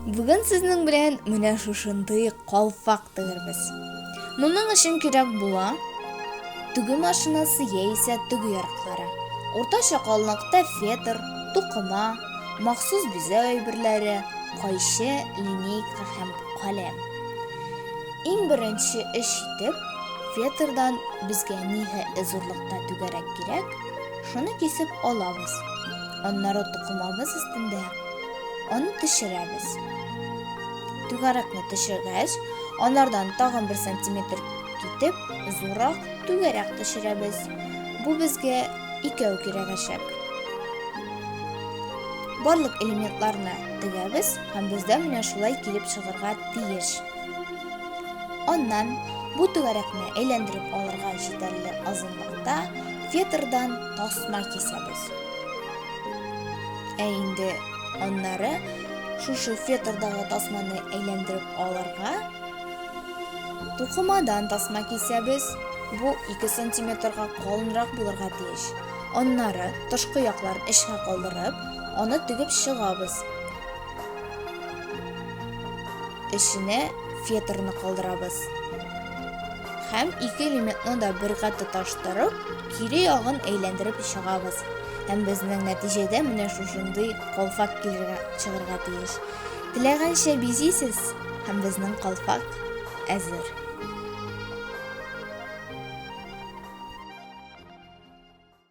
Бүген сезнең белән менә шушындый калфак тегербез. Моның өчен кирәк була төге машинасы яисә төге ярыклары. Уртача калынлыкта фетр, тукыма, махсус бизәү әйберләре, кайчы, линейка һәм каләм. Иң беренче эш итеп, фетрдан безгә нигә зурлыкта түгәрәк кирәк, шуны кисеп алабыз. Аннары тукымабыз өстендә Аны төшерәбез. Түгәрәкне төшергәч, анардан тагын бер сантиметр китеп, зуррак түгәрәк төшерәбез. Бу безгә икәү кирәгәчәк. Барлык элементларны тегәбез һәм бездә менә шулай килеп чыгарга тиеш. Аннан бу түгәрәкне әйләндереп алырга җитәрлек азынлыкта фетрдан тасма кисәбез. Ә инде аннары шушы фетрдагы тасманы әйләндереп алырга тукымадан тасма кисәбез. Бу 2 сантиметрга калынрак булырга тиеш. Аннары тышкы якларын эчкә калдырып, аны тегеп чыгабыз. Эченә фетрны калдырабыз. Һәм ике элементны да бергә тоташтырып, Кире ягын әйләндереп чыгабыз. Һәм безнең нәтиҗәдә менә шушындый калфак килергә чыгарга тиеш. Теләгәнчә бизисез, һәм безнең калфак әзер.